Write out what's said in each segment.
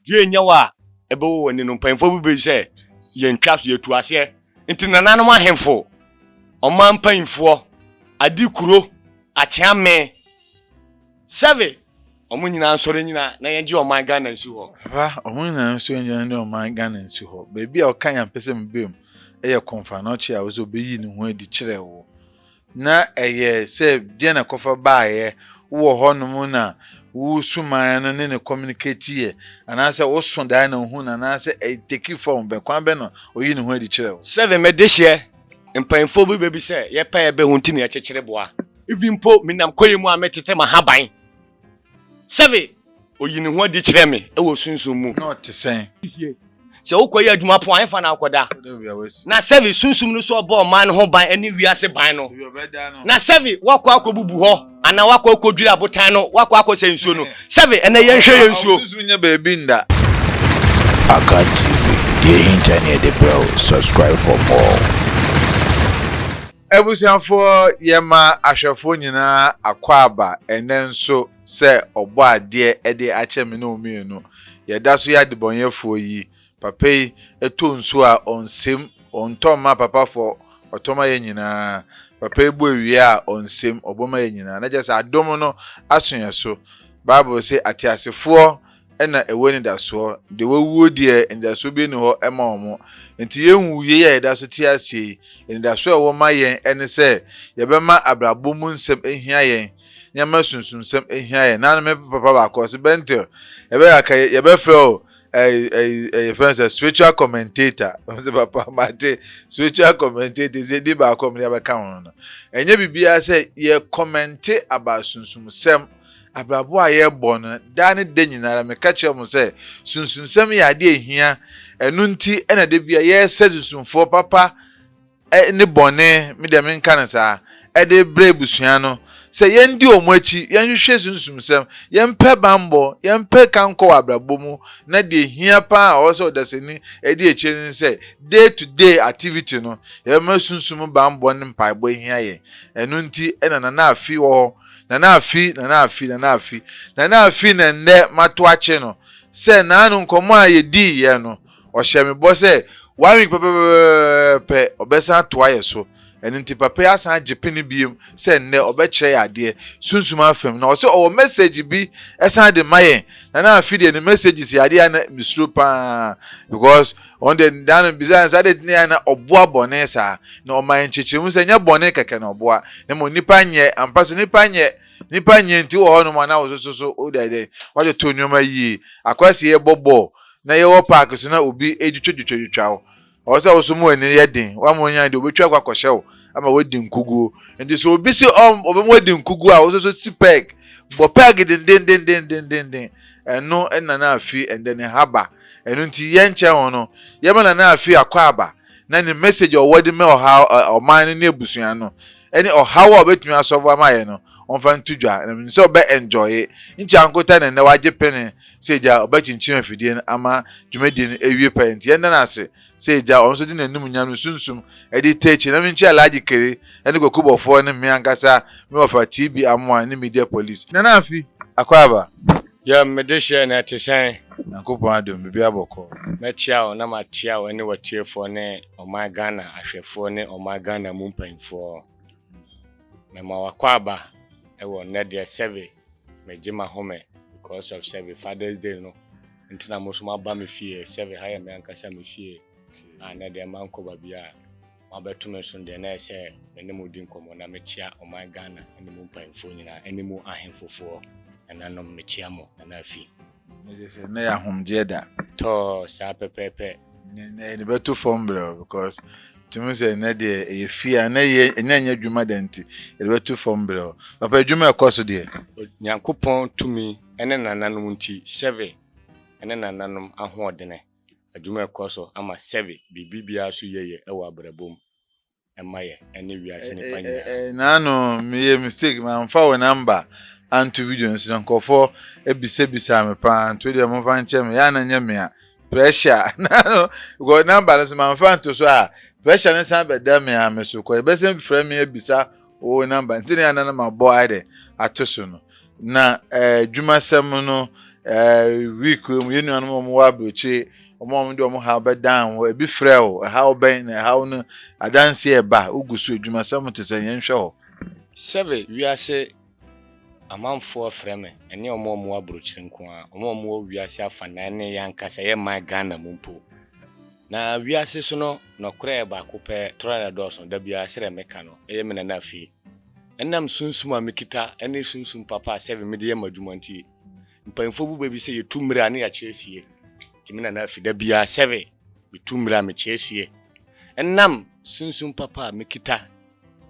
Due nyɛ wo a ɛbɛwɔ w'ani no, mpanyimfoɔ bi bɛyi sɛ yɛntwa so, yɛtu aseɛ. Nti nananom ahemfo, ɔman mpanyimfoɔ, adekuro, akyeame, sɛve, wɔn nyinaa nsɔre nnyina na yɛngye ɔman Ghana nsi hɔ. Papa, wɔn nyinaa nsɔre nnyina ne ɔman Ghana nsi hɔ. Baabi a ɔka yɛn ampɛ sɛ mebam yɛ Komfo Anokye a ɔse ɔbɛyi ne ho adi kyerɛ wo. Na ɛyɛ sɛ deɛn na ɛkɔfa baeɛ? Wowɔ hɔnom na wo suman no ne no kɔminiketeeɛ, anaasɛ woso daeɛ na wohuu no, anaasɛ ɛteki fɔm bɛn? Kwan bɛn na ɔyii ne ho adi kyerɛɛ wo? Seven, Me dehyeɛ mpanyinfoɔ bi bɛ bi sɛ yɛpɛ a yɛbɛhu nti na yɛkyekyere boa. Ebi mpo menam koye mu a metete m'ahaban. Sɛbe. Oyi ne ho adi kyerɛ me wɔ sunsum mu. Na ɔte sɛn? Sɛ wokɔyɛ adwuma po a, ɛhefa na wokɔda? Na sɛbe sunsum no so ɔbɔɔ ɔman no ho ban ne wiase ban no. Na sɛbe woakɔ akɔbubu hɔ, anaa woakɔ akɔdwiri abotan no, woakɔ akɔsɛe nsuo no. Sɛbe ɛnnɛ yɛnhwɛ yɛn nsuo. Sunsum nyɛ baabi nda. Akan TV, deɛ ɛhinta ne yɛde brɛ wo, subscribe for more. Abusuafoɔ, Yɛma ahwɛfoɔ nyinaa akwaaba ɛnnɛ nso sɛ Ɔbɔadeɛ de akyɛ me ne wo mmienu. Yɛda so yɛ adebɔnyɛfoɔ yi. Papa yi tɔ nsuo a, ɔnsem, ɔntɔ mma papafoɔ, ɔtɔ ma yɛn nyinaa. Papa yi bɔ awia a, ɔnsem, ɔbɔ ma yɛn nyinaa. Na kyerɛ sɛ, adom no aso yɛn so. Bible se, ateasefoɔ na ɛwɔ anidasoɔ, deɛ wawuo deɛ anidasoɔ bi nni hɔ ma wɔn. Nti yɛnwu yei a yɛda so te aseɛ yi, anidasoɔ a ɛwɔ ma yɛn ne sɛ yɛbɛma abrabɔ mu nsɛm ahia yɛn, na yɛama sunsumsɛm ahia yɛn. Na me papa baako ɔse, Bentil, yɛbɛyɛ aka yɛbɛfrɛ o yɛfrɛ no sɛ spiritual commentator. Ɔse papa mate spiritual commentator sɛ ɛdi baako a mede abɛka ho no. Ɛnyɛ biribiara sɛ yɛ kɔmɛnte aba sunsumsɛm Abrabɔ a yɛbɔ no daa ne da nyinara, meka kyerɛ mo sɛ, sunsumsɛm yɛ ade a ehia. Ɛno nti na da biara yɛsɛ sunsumfoɔ papa ne bɔne, me deɛ menka no saa, de brɛ abusua no, sɛ yɛndi wɔn akyi, yɛnhwehwɛ sunsumsɛm, yɛmpɛ bammɔ, yɛmpɛ kankɔ wɔ abrabɔ mu, na deɛ ehia pa ara a ɔwɔ sɛ ɔdasani di akyire no ne sɛ, day to day activity no, yɛbɛma sunsum bammɔ ne mpaebɔ ahia yɛn. Ɛno nti na Nana Afi wɔ hɔ. Nana Afi, Nana Afi, Nana Afi, Nana Afi na nnɛ mato akye no sɛ naano nkɔmmɔ a yɛdiiɛ no, ɔhyɛɛ me bɔ sɛ one week pɛpɛpɛpɛpɛ ɔbɛsan atoa yɛ so. Ɛno nti papa yi asan agye pene biom sɛ nnɛ ɔbɛkyerɛ yɛ adeɛ, sunsum afam, na ɔse ɔwɔ message bi san de ma yɛn. Nana Afi deɛ ne messages yɛ adeɛ a na mesuro paa because Wɔn de daa no bisaa no sɛ, Adɛn nti na yɛayɛ na ɔboa bɔne saa? Na ɔmaa nkyekyeremu sɛ, Ɛnyɛ bɔne kɛkɛ na ɔboa, na mmom nnipa nyɛ. Ampa so, nnipa nyɛ. Nnipa nyɛ nti wowɔ hɔnom a na wososo so woda dɛn? Woatoto nneɛma yie. Akwasi yɛbɔ bɔɔl, na yɛwɔ paake so na obi retwitwatwitwa wo. Ɛwɔ sɛ wo nso ma w'ani yɛ den. Woamma ɔnyɛ ade, obetwa akɔ akɔhyɛ wo ama woadi nkoguo. Enti sɛ obi se ɔbɛma woadi nkoguo a, wo nso so si pɛɛg. Bɔ pɛɛg dendendendendendennen. Ɛno na na afiri ɛndɛ ne ha ba. Ɛno nti yɛ nkyɛ ho no, yɛ ma na na afiri akɔ aba na ne message a ɔwɔ de mɛ ɔhaw ɛ ɔman no ne abusua no ɛne ɔhaw a ɔbɛtumi asɔvo ama yɛ no ɔmfa nto dwa na menim sɛ ɔbɛ enjoye. Nkyɛ ankota na ɛndɛ wagye pene sɛ agya ɔbɛkyenkyen afidie no ama dwumadie no awie pɛyɛ nti yɛnda no ase. sɛ agya ɔno nso de n'animonyam ne sunsum de ta akyi na menkyi Alhaji Kere ne Kwaku Bɔfoɔ ne me ankasa me wɔfa TB Amoah ne Media Police. Nana Afi, Akwaaba. Yam, me dehyeɛ no ɛte sɛn? Nyankopɔn adom, biribiara bɔkɔɔ. Mɛkyea wo na makyea wo ne w'atiefoɔ ne ɔman Ghana ahwɛfoɔ ne ɔman Ghana mu mpanyinfoɔ. Mɛma w'akwaaba ɛwɔ nnɛ deɛ sɛbe megye m'ahome because of sɛbe Father's Day no Nti na mo so mo aba me fie sɛ ɛha yɛ me ankasa me fie a na deɛ ma nkɔ baabi a mo abɛto me so deɛ na yɛ sɛ me ne mo di nkɔmɔ na me kyia ɔman Ghana ɛne mo mpanyinfoɔ nyinaa ɛne mo ahenfofoɔ nananom me kyia mo nana afi. Ɛyɛ sɛ na yɛ ahomgyeɛ da. Tɔɔ saa pɛpɛɛpɛ. ɛde bɛto fam brɛw because tumi sɛ ɛnɛ deɛ ɛyɛ fie a ɛnɛ yɛ ɛnɛ nyɛ adwuma dɛ nti ɛde bɛto fam brɛw papa adwuma ɛkɔ so deɛ. nyankopɔn tumi ɛne nananom nti sɛbe ɛne nananom ahoɔdene adwuma ɛkɔ so ama sɛbe biribi biara so yɛyɛ ɛwɔ abrabɔ mu mma yɛn ɛne wiase nnipa nyinaa. Naa no meyɛ mistake manfa wo number anto video no so na nkurɔfoɔ bisa bisaa me paa nti wodeɛ momfa nkyɛ me yɛ a na nyɛ me a pressure naa no because number no nso manfa anto so a pressure no san bɛda me ara me so kɔ yɛbɛsan frɛ me abisa Wo number nti na yɛn ma bɔ ayɛ dɛ ato so no na adwumasɛm eh, no eh, week mu yɛn nuanom wɔn wɔ aburokyire wɔn a wɔn de wɔn ha bɛdan hɔ ebi frɛ o ɛhaw bɛn na ɛhaw no adansi ɛba ogu so adwumasɛm te sɛ yɛn hwɛ hɔ. Sɛbe wiase amanfoɔ frɛ me ɛne wɔn a wɔn wɔ aburokyire nko ara wɔn a wɔn wɔ wiase afanan ne yɛn ankasa yɛn man Ghana mu mpo Na wiase so no nɔkorɛ baako pɛ tra na ɛdɔɔso da biara sɛdeɛ meka no, ɛyɛ me nana fie. Ɛnam sunsum a mekita ne sunsum papa a sɛdeɛ mede yɛ m'adwuma nti, mpaninfoɔ bu bɛ bi sɛ yɛtu mmiri a ne yɛakyerɛ sie. Nti me nana fie da biara sɛdeɛ metu mmiri a mekyerɛ sie. Ɛnam sunsum papa a mekita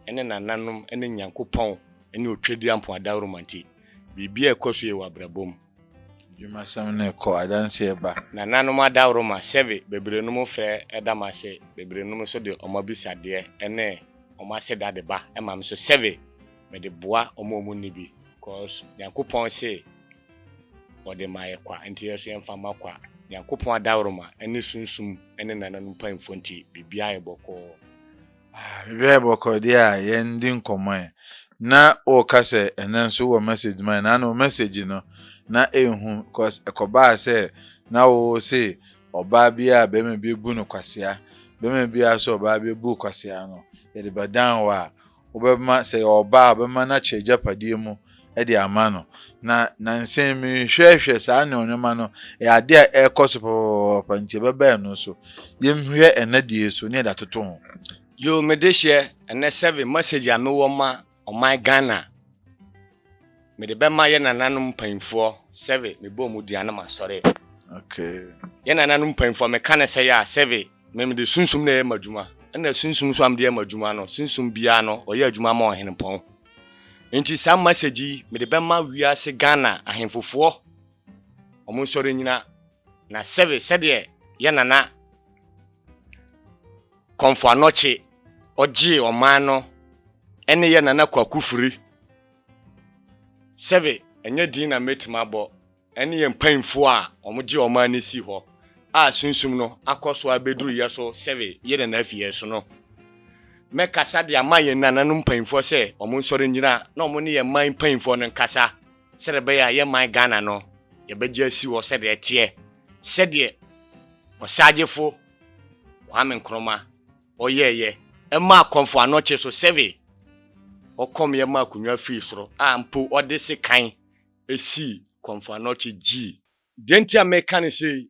ne nananom ne Nyankopɔn ne Otwadeɛ Ampɔn Adawuruma nti, biribiara a ɛkɔ so yie wɔ abrabɔ mu. Dwumasɛm no kɔ, adanse ba. Nananom adaworo ma sɛbe beberenom frɛ da mo ase, beberenom nso de wɔn abisadeɛ ne wɔn aseda de ba ma me nso sɛbe mede boa wɔn a wɔnni bi, cos Nyankopɔn se wɔde ma yɛ kwa, nti yɛnso yɛmfa mma kwa. Nyankopɔn adaworo ma ne sunsum ne nananom mpanyimfoɔ nti biribiara yɛ bɔkɔɔ. Hwɛ bɔkɔɔdeɛ a yɛn di nkɔmmɔ ɛ. Na wo ka sɛ ɛnɛ nso wɔ message ma ɛ na no message no na ɛnhu cause ɛkɔbaa sɛ na wo se ɔbaa biaa bɛma bi abu no kwasea bɛma biaa sɛ ɔbaa bi abu kwasea no yɛde bɛdan wo a wobɛma sɛ yɛ ɔbaa a wobɛma no akyɛ agyapadeɛ mu de ama no. Na nansa yi mehwɛhwɛ saa nneɛma no, ɛyɛ ade a ɛrekɔ so pɛpɛpɛpɛ nti ɛbɛba ɛno so. Yɛnhwɛ ɛnɛ deɛ so ne yɛde atoto ho. Yoo me de hyɛ ɛnɛ seven message a mewɔ ma ɔman Ghana mede bɛma yɛ nananom mpanyinfoɔ sɛbe mebɔ ɔmo dua na masɔre. Okay. Yɛ nananom mpanyinfoɔ meka ne sɛ yɛ a sɛbe Na mede sunsum na ɛyɛ m'adwuma, ɛnna sunsum nso a mede yɛ m'adwuma no, sunsum biara no, ɔyɛ adwuma ma ɔhenepɔn. Enti saa masɛgye yi, mede bɛma wiase Ghana ahenfofoɔ, wɔn nsɔre nnyina, na sɛbe sɛdeɛ yɛn nana Komfo Anokye ɔgyee ɔman no ne yɛn nana Kwaku Firi, sɛbe ɛnyɛ din na mɛtumi abɔ, ne yɛn mpanyimfo a wɔgye ɔman no si hɔ a Sunsum no akɔ so abeduru yɛn so sɛbe yɛn na na afi yɛn so no. Mɛkasa de ama yɛn nananom mpanyimfoɔ sɛ wɔn nsɔre ngyina na wɔn ne yɛn man mpanyimfoɔ no nkasa sɛdeɛ ɛbɛyɛ a yɛn man Ghana no yɛbɛgye asi hɔ sɛdeɛ ɛteɛ sɛdeɛ Ɔsagyefo Kwame Nkrumah ɔyɛɛyɛ ɛmaa Komfo Anokye so sɛbe ɔkɔm yɛ maa akonwa firi soro a mpo ɔde sekan esii Kɔmfoanɔkye gyii. Deɛ nti a meka no sei,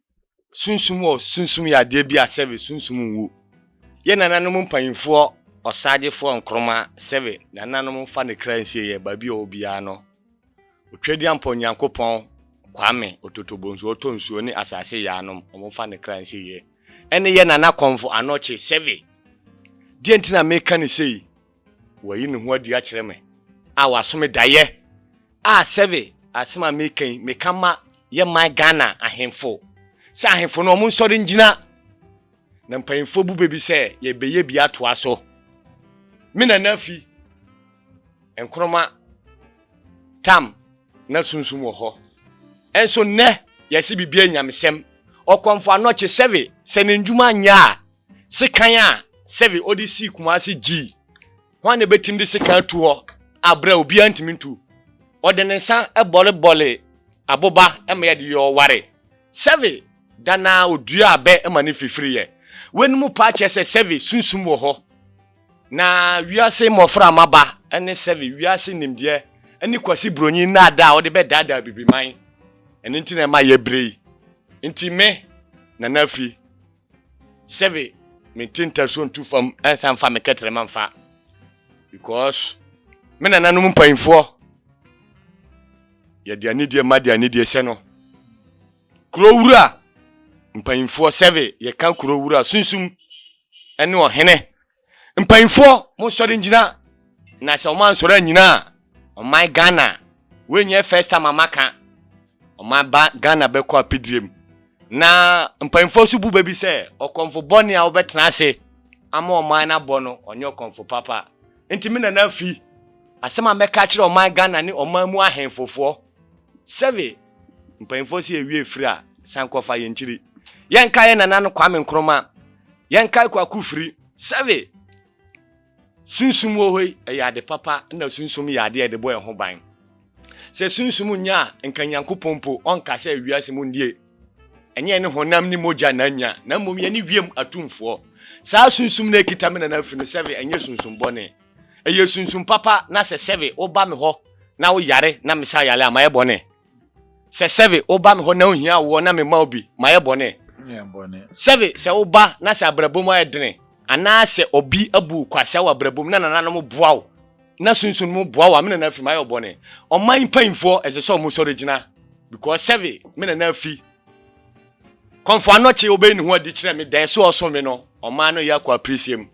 sunsum wɔ sunsum yɛ adeɛ bi a sɛbe sunsum nwu. Yɛ nananom mpanyinfoɔ Ɔsagyefoɔ Nkrumah sɛbe nananom mfa ne kra nsie yɛ baabi a ɔwɔ biara no. Otwadiampɔ Nyankopɔn Kwame Ototobonsu ɔtɔ nsuo ne asase yɛ anom ɔmo mfa ne kra nsie yɛ ɛne yɛ nana Kɔmfo Anɔkye sɛbe. Deɛ nti na meka no sei, Wayi ne ho adi akyerɛ me. A waso me daeɛ. A sɛbe asem a meka yi meka ma yɛ man Ghana ahenfo sɛ ahenfo no ɔmo nsɔre ngyina na mpanyinfoɔ bu bɛbi sɛ yɛ bɛyɛ bi atoa so. Me nana afi Nkroma tam na sunsum wɔ hɔ nso nnɛ yɛse biribi yɛ nyamesɛm. Ɔkɔmfo anɔkye sɛbe sɛ ne ndwuma nyɛ a Sekan a sɛbe ɔde sii Kumasi gyii. Hwan na ebetumi de sekan atu hɔ a bere a obiara ntumi ntu? Ɔde ne nsa bɔrebɔree aboba ma yɛde yɛɛ ɔware. Sɛbe da no ara oduaa bɛ ma no fifiriiɛ. Weinom paa kyerɛ sɛ sɛbe sunsum wɔ hɔ. Na wiase mmɔfra mmaba ne sɛbe wiase nimdeɛ ne Kwasi Buronyi nnaadaa a ɔde bɛdaadaa Abibiman. Ɛno nti na ɛma yɛbrɛ yi. Nti me, Nana Afi, Sɛbe mente ntaso nto fam ansa mfa me kɛtrɛma mfa because me nananom mpanyinfoɔ yɛde anidie ma de anidie sɛ no kuro wura mpanyinfoɔ sɛbe yɛka kuro wura sunsum ɛne ɔhene Mpanyinfoɔ mo nsɔre ngyina. Na sɛ ɔmo ansɔre anyina a ɔman Ghana wei nyɛ first time a maka ɔman ba Ghana bɛkɔ apidie mu na mpanyinfoɔ nso bu bɛ bi sɛ ɔkɔmfo bɔne a ɔbɛtena ase ama ɔman no abɔ no ɔnyɛ ɔkɔmfo papa nti me nana afi asɛm a mɛka akyerɛ ɔman Ghana ne ɔman mu ahenfofoɔ Sɛbe mpanyimfoɔ se yɛwie firi a, san kɔfa yɛn kyiri. Yɛnkae yɛn nana no Kwame Nkrumah. Yɛnkae Kwaku Firi. Sɛbe sunsum wɔ hɔ yi, ɛyɛ ade papa na sunsum yɛ adeɛ a yɛde bɔ yɛn ho ban. Sɛ sunsum nnya a, nka Nyankopɔn mpo ɔnka sɛ wiase mu ndeɛ ɛnyɛ yɛne honam ne mogya na anya, na mmom yɛne wiem atumfoɔ. Saa sunsum no a ɛkita me nana Firi no, sɛbe ɛnyɛ sunsum bɔne. Ɛyɛ sunsum papa na sɛ sɛbe woba me hɔ na woyare na mesa yare a, mayɛ bɔne? Sɛ sɛbe woba me hɔ na wohia awoɔ na mema wo bi, mayɛ bɔne? Sɛbe sɛ woba na sɛ abrabɔ mu ayɛ dene, anaa sɛ obi abu wo kwasea wɔ abrabɔ mu na nananom boa wo, na sunsum no boa wo a, me nana afi, mayɛ wo bɔne? Ɔman mpanyimfoɔ, ɛsɛ sɛ wɔsɔre gyina, because sɛbe me nana afi kɔmfo anɔkye ɔbɛyi ne ho adi kyerɛ me dɛn, so ɔsom me no, ɔman no yɛ akɔ apirisiam.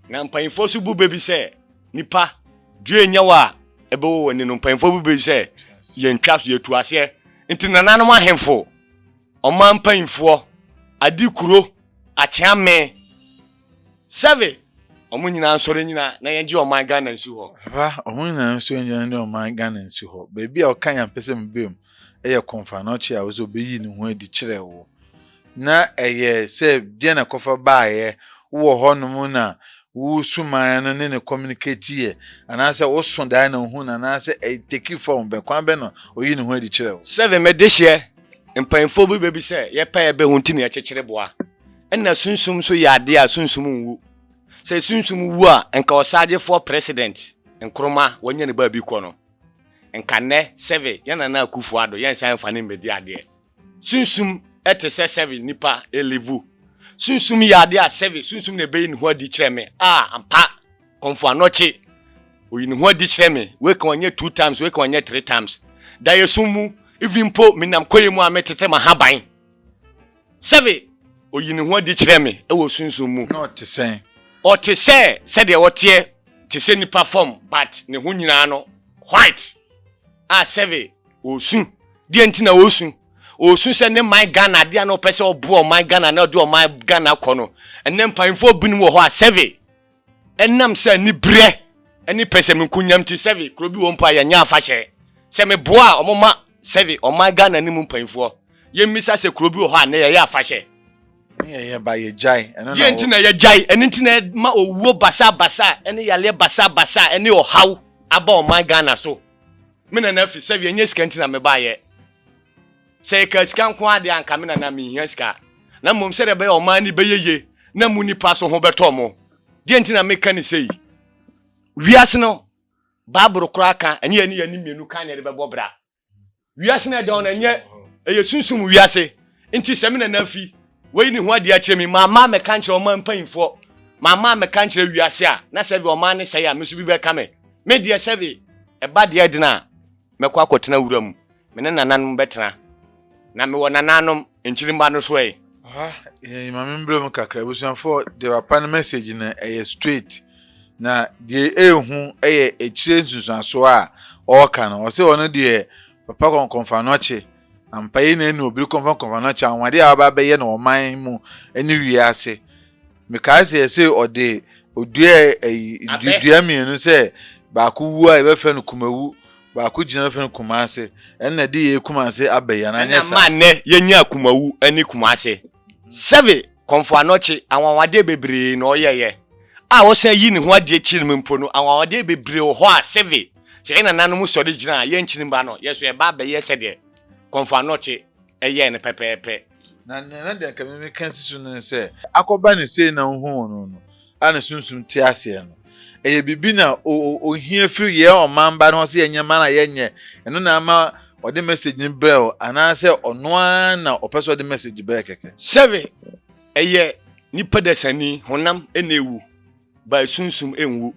Na mpanyimfoɔ nso bu bɛ bi sɛ, Nnipa, due nyɛ wo a ɛbɛwɔ w'ani no, mpanyimfoɔ bu bɛ bi sɛ, Yɛntwa so, yɛtu aseɛ. Nti nananom ahemfo, ɔman mpanyimfoɔ, ade kuro, akyea me, sɛve, wɔn nyinaa nsɔre nnyina na yɛngye ɔman Ghana nsi hɔ. Papa, wɔn nyinaa nsɔre nnyina ne ɔman Ghana nsi hɔ. Baabi a ɔka yɛ a mpɛ sɛ mebam yɛ Komfo Anokye a ɔse ɔbɛyi ne ho adi kyerɛ wo. Na ɛyɛ sɛ deɛn na ɛkɔfa baeɛ? Wowɔ hɔnom na wosumaeɛ no ne no communicateeɛ anaasɛ woso daeɛ na ohuu no anaasɛ ɛteki fɔɔm bɛn? Kwan bɛn na ɔyii ne ho adi kyerɛɛ wo? Seven, M'adehyeɛ mpanyimfoɔ bi bɛ bi sɛ yɛpɛ a yɛbɛhu nti na yɛkyekyere boa. Ɛna sunsum nso yɛ adeɛ a sunsum nwu. Sɛ sunsum wu a nka ɔsagyefoɔ president Nkrumah wanya ne baabi kɔ no nka nnɛ Seven yɛn Nana Akuffo Addo yɛnsan mfa no mmɛdi adeɛ. Sunsum te sɛ sɛbe nipa elevu. Sunsum yɛ ade a sɛbe sunsum na ebeyi ne ho adi kyerɛ me. A, ampa, kɔmfo anɔkye. Oyi ne ho adi kyerɛ me. Wei ka ɔnyɛ two times, wei ka ɔnyɛ three times. Daeɛsum mu, even mpo menam kɔyɛ mu a metete m'ahaban. Sɛbe oyi ne ho adi kyerɛ me wɔ sunsum mu. Na ɔte sɛn? Ɔte sɛ sɛdeɛ ɔteɛ te sɛ nipa fam but ne ho nyinaa no white. a sɛbe ɔresu. Deɛ nti na ɔresu? Ɔresu sɛ ne man Ghana adeɛ a na ɔpɛ sɛ ɔboa ɔman Ghana na ɔde ɔman Ghana kɔ no. Ɛnɛ mpanyinfoɔ binom wɔ hɔ a sɛbe ɛnam sɛ anibrɛ ne pɛsɛmenkunyam nti sɛbe kuro bi wɔ mpo a yɛnyɛ afahyɛ. Sɛ meboa a wɔma sɛbe ɔman Ghana no mu mpanyinfoɔ. Yɛmmisa sɛ kuro bi wɔ hɔ a nnɛ yɛyɛ afahyɛ. deɛ nti na yɛgyae ɛno nti na ma owuo basabasa ɛne yareɛ basabasa ɛne ɔhaw aba ɔman ghana so me nana fi sɛ yɛnyɛ sika nti na mebaeɛ sɛ yɛka sika nko adeɛ anka me nana mehia sika na mmom sɛdeɛ bɛyɛ ɔman ne bɛyɛ ye na mu nipa so ho bɛtɔ mo deɛ nti na meka ne sei wiase no baaboro koraa ka ɛne yɛne yɛne mmienu ka ne yɛde bɛbɔ bra wiase na ɛdɛn na ɛnyɛ ɛyɛ sunsum wiase nti sɛ me nana fi wɔyi ne ho adeɛ akyerɛ mi maama mɛka nkyerɛ ɔma mpanyinfoɔ maama mɛka nkyerɛ wiase a na sɛ bi ɔma ne sɛ yɛ a me nso bi bɛka me me deɛ sɛ bi ɛba deɛ dena a mɛkɔ akɔtena wura mu me ne nananom bɛtena na mewɔ nananom Nkyirimba no so ɛ. Ɔha yɛn Maame mbrɛ mu kakra ebusuafoɔ deɛ papa no message no ɛyɛ straight na deɛ ehu ɛyɛ ekyire nsunsuansoɔ a ɔɔka no ɔse ɔno deɛ papa kɔnkɔnfanɔkye ampa yei na ɛnu obiri kɔnfɔnkɔnfanɔkye anwadeɛ a waba abɛyɛ no ɔman mu ɛne wiase mekae sɛ ɛsɛ ɔde odua dua mmienu sɛ baako wu a yɛbɛfrɛ no kumawu baako gyina bɛfrɛ no kumase ɛnna de yɛ kumase abɛ yɛn anyɛ sa. ɛnna maa nnɛ yɛnyɛ akumawu ne kumase sɛbe kɔnfo anɔkye anwanwadeɛ bebree na ɔyɛyɛ a ɔsan yi ne ho adi akyiri mu mpo no anwanwadeɛ bebree wɔ hɔ a sɛbe sɛ yɛn nananom sɔre gyina a yɛn nkyiri mma no yɛso yɛba abɛyɛ sɛdeɛ kɔnfo anɔkye ɛyɛɛ no pɛpɛɛpɛ. Na nea na de anka me meka asi so no ne sɛ, akɔba no sei na wohuu no no a ne sunsum te aseɛ no, ɛyɛ biribi na ɔhia firi yɛn ɔmanba no hɔ sɛ yɛnyɛ ma no a yɛnyɛ, ɛno na ama ɔde message no brɛ wo anaasɛ ɔno ara na ɔpɛ sɛ ɔde message brɛ kɛkɛ? Sɛbe ɛyɛ nipa dasani, honam na ɛwu, but sunsum nwu.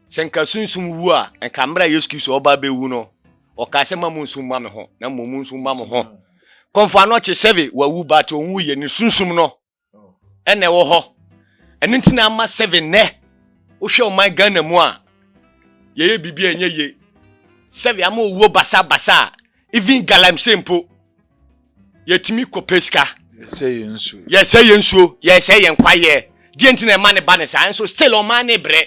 Sɛ nka sunsum wu a, nka mmerɛ a Yesu Kristo ɔba bɛwu no, ɔkaa sɛ ma mo nsu mma me ho, na mmom mo nsu mma mo ho. kɔmfo ano ɔkye sɛve wawu but ɔnwu yɛ ne sunsum no ɛna ɛwɔ hɔ ɛno nti na ama sɛve nnɛ wohwɛ ɔman ghana mu a yɛyɛ biribi a ɛnyɛ ye sɛve ama owuo basabasa a even galamsey mpo yɛtumi kɔpɛ sika yɛsɛ yɛ nsuo yɛsɛ yɛn kwayɛ deɛ nti na ɛma ne ba ne saa nso still ɔman ne brɛ